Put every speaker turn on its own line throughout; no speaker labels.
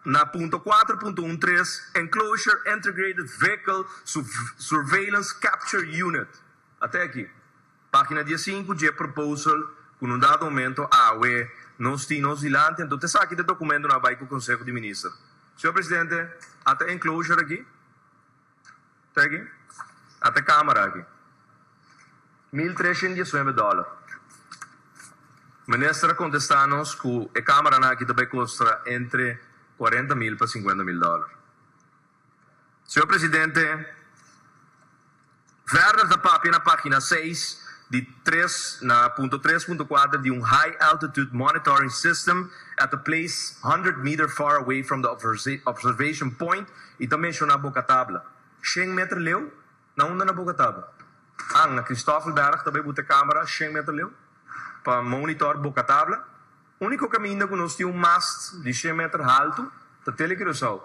Na punto kuater punto un tres, Enclosure Integrated Vehicle Surveillance Capture Unit, a te aki, página dies sinku, dje proposal ku no dado momento awe nos tin nos dilanti, anto ta esaki ta dokumento na bai ku Konseho di Minister. Señor Presidente, a ta enclosure aki. Tregui ata e camera aki. Mil treshent diesnuebe dollar. Minister a contesta nos cu e cameranan aki ta bay costra entre cuarenta mil pa cincuenta mil dollar. Señor Presidente, Werner ta papia na pagina seis di tres na punto tres punto cuater di un high altitude monitoring system at a place hundred meter far away from the observation point, I ta menshoná Boka Tabla. Shen meter leu? Na unda na Boka Tabla? Ang, na Christoffelberg ta bai bu te kámara shen meter leu pa monitor Boka Tabla. Úniko kaminda ku nos tin un mast di shen meter haltu ta Tele Curaçao.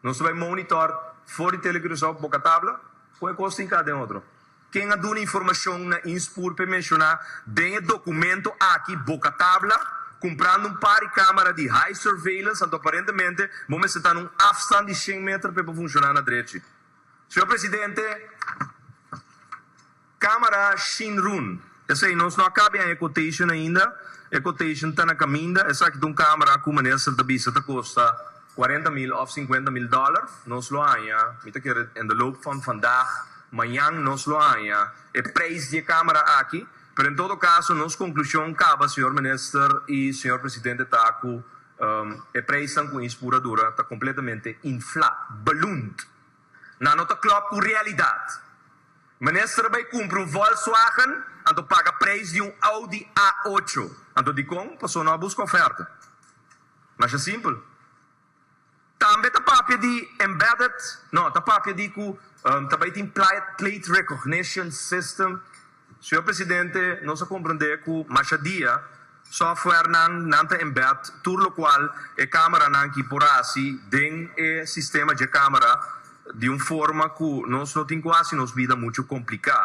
Nos ta bai monitor for di Tele Curaçao Boka Tabla, kon e kos tin ka den otro. Ken a duna informashon na Inspoor p'e menshoná den e dokumento aki boka tabla, kumprando un par di kámara di high surveillance, anto aparentemente bo mester ta na un afstand di shen meter p'e por funshoná na drechi. Señor Presidente, kámara Shin Run. Esei nos no a kabi en e quotation ainda, e quotation ta na kaminda, esaki ta un camera cu meneer Sir ta bisa ta costa cuarenta mil of cincuenta mil dollar, nos lo haña, mi ta kere in de loop van vandag, mañan nos lo haña e prijs di e camera aki, pero en todo caso nos conclusion caba Señor Minister y Señor Presidente ta cu e prijsnan cu Inspura dura ta completamente infla, ballooned. Nan no ta klòp ku realidat. Minister a bai kumpri un Volkswagen, anto paga preis di un Audi A ocho. Anto dikon paso no a buska oferta? Masha simpel. Tambe ta papia di embedded, no, ta papia di ku ta bai tin plate recognition system. Señor Presidente, nos a comprende cu mashadia softwarenan nan ta embed tur locual e cameranan ki por haci den e sistema dje camera di un forma cu nos no tin cu haci nos bida mucho complica.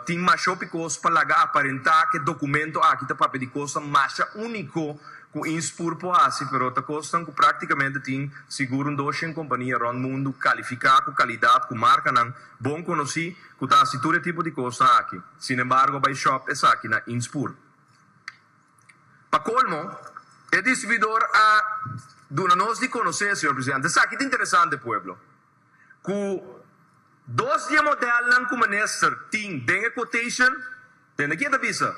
Tin mashopi cos pa laga aparenta cu e documento aki ta papia di cosnan masha unico cu Ins Pur por haci, pero ta cosnan cu practicamente tin sigur un doshent compania rond mundu califica cu calidad cu marcanan bon conoci. Cu ta haci tur e tipo di cosnan aki. Sin embargo bay shop esaki na Inspur. Pa colmo, e distribuidor a duna nos di conoce, señor Presidente, esaki ta interesante pueblo, cu dos di e modelnan cu Minister tin den e quotation, dende aki e ta bisa,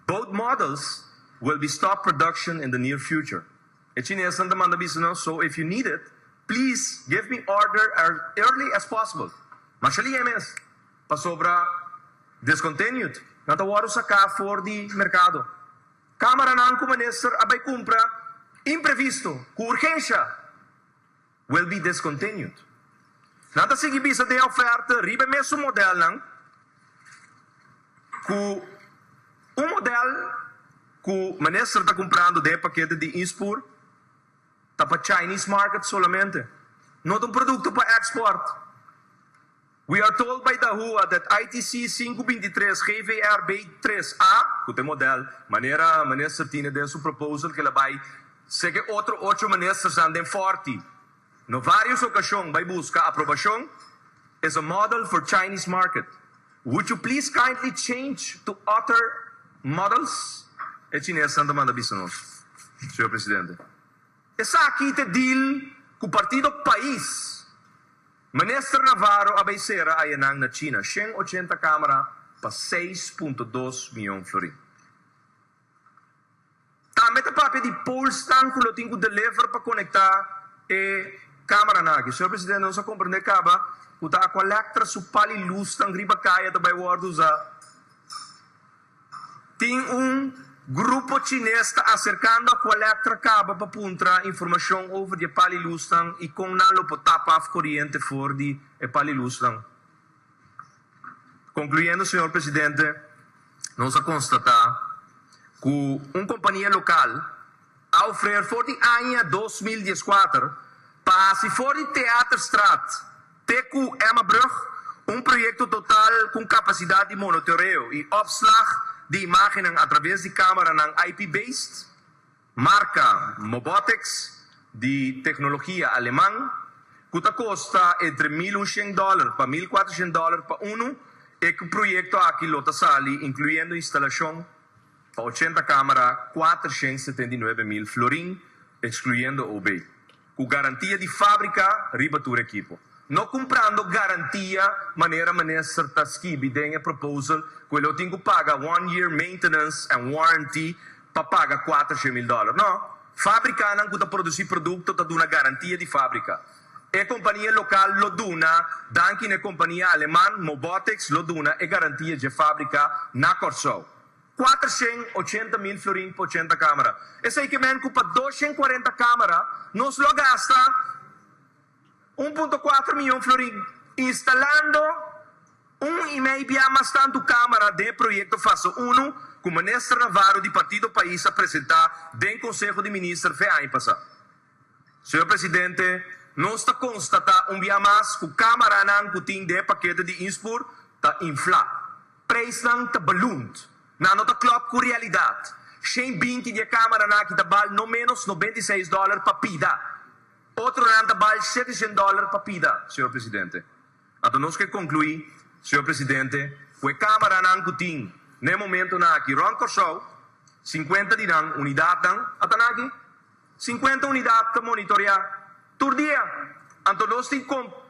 Both models will be stop production in the near future. E chinesnan ta manda bisa nos, So if you need it, please give me order as early as possible, masha liga e mes, pasobra discontinued nan ta wòrdu saká for di merkado. Kámaranan ku minister a bai kumpra imprevisto, ku urgensha. Will be discontinued. Nan ta sigui bisa den oferta riba e mesun modelnan cu un model cu Minister ta cumprando den e pakete di Inspur ta pa Chinese market solamente. No ta un producto pa export. We are told by Dahua that ITC sinku binti tres GVR bay tres a, cu ta e model, manera Minister tine den su proposal kila bay seke otro ocho ministersnan den Forti no varios ocasion bay busca aprobacion, is a model for Chinese market. Would you please kindly change to other models? e chinesnan ta manda bisa nos, Señor Presidente. Esaki ta e deal cu partido pais. Minister Navarro a bay cera ayanan na China shen ochenta camera pa seis punto dos miyon florin. Tambe ta papia di polesnan cu lo tin cu deliver pa conecta e cameranan aki. Señor Presidente, nos a comprende caba cu ta Aqualectra su pal y luznan riba caya ta bay wordo uza. Tin un grupo chines ta aserkando a koelektra kaba pa puntra informashon over di e pal i lusnan i kon nan lo por tapa af koriente for di e pal i lusnan. Konkluyendo, señor presidente, nos a konstatá ku un kompania lokal a ofrer for di aña dos mil dieskuater pa hasi for di Theaterstraat, Te ku Emmabrug, un proyekto total ku un kapasidat di monotoreo i opslag di imágennan atraves di kámaranan IP-based, marka Mobotex, di teknologia aleman, ku ta kosta entre mil unshent dòler pa mil kuatroshent dòler pa unu, e proyekto aki lo ta sali, inkluyendo instalashon, pa ochenta kámara, kuatroshent setenta i nuebe mil florin, ekskluyendo OB. Cu garantia di fabrica riba tur ekipo. No cumprando garantia manera Minister ta skibi den e proposal cu e lo tin cu paga one year maintenance and warranty pa paga cuater she mil dollar. No. Fabricanan cu ta produci producto ta duna garantia di fabrica. E compania local lo duna, danki na e compania Aleman, Mobotex, lo duna e garantia dje fabrica na Corsou. Kuater shen ochenta mil florin pa ochenta kamera. Esei ke men ku pa dos shen kuarenta kamera nos lo gasta un punto kuater miyon florin, instalando un i mei bia mas tantu kamera den e proyekto fase unu ku Minister Navarro di Partido Pais a presentá den Konseho di Minister fe aña pasá. Señor Presidente, nos ta constata un bia mas cu camaranan cu tin de pakete di Inspoor ta infla. Prijsnan ta ballooned. Nan no ta klop cu realidad. Shen binti di e camaranan aki ta bal no menos noventa i seis dollar pa pida. Otronan ta bal shete shen dollar pa pida, Señor Presidente. Anto nos ke conclui, Señor Presidente, cu e camaranan cu tin na e momentonan aki rond Corsou, cincuenta di nan unidadnan a ta naki. Sinkuenta unidat ta monitorea tur dia, anto nos tin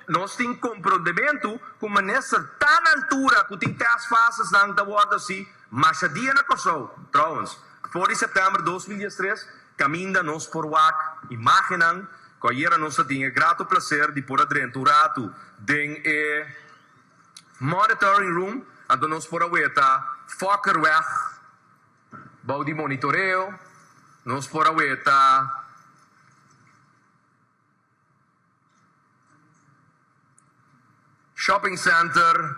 nos tin komprondementu ku minister ta na altura ku tin tèst fasesnan ta wòrdu hasi masha dia na Kòrsou. Trouwens, for di sèptèmber dos mil dies tres kaminda nos por wak imágennan ku ayera nos a tin e grato plaser di por a drenta un ratu den e monitoring room, anto nos por a weta Fokkerweg. Bou di monitoreo nos por a weta Shopping Center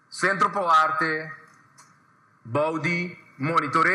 Centro Poarte bou di monitoreo.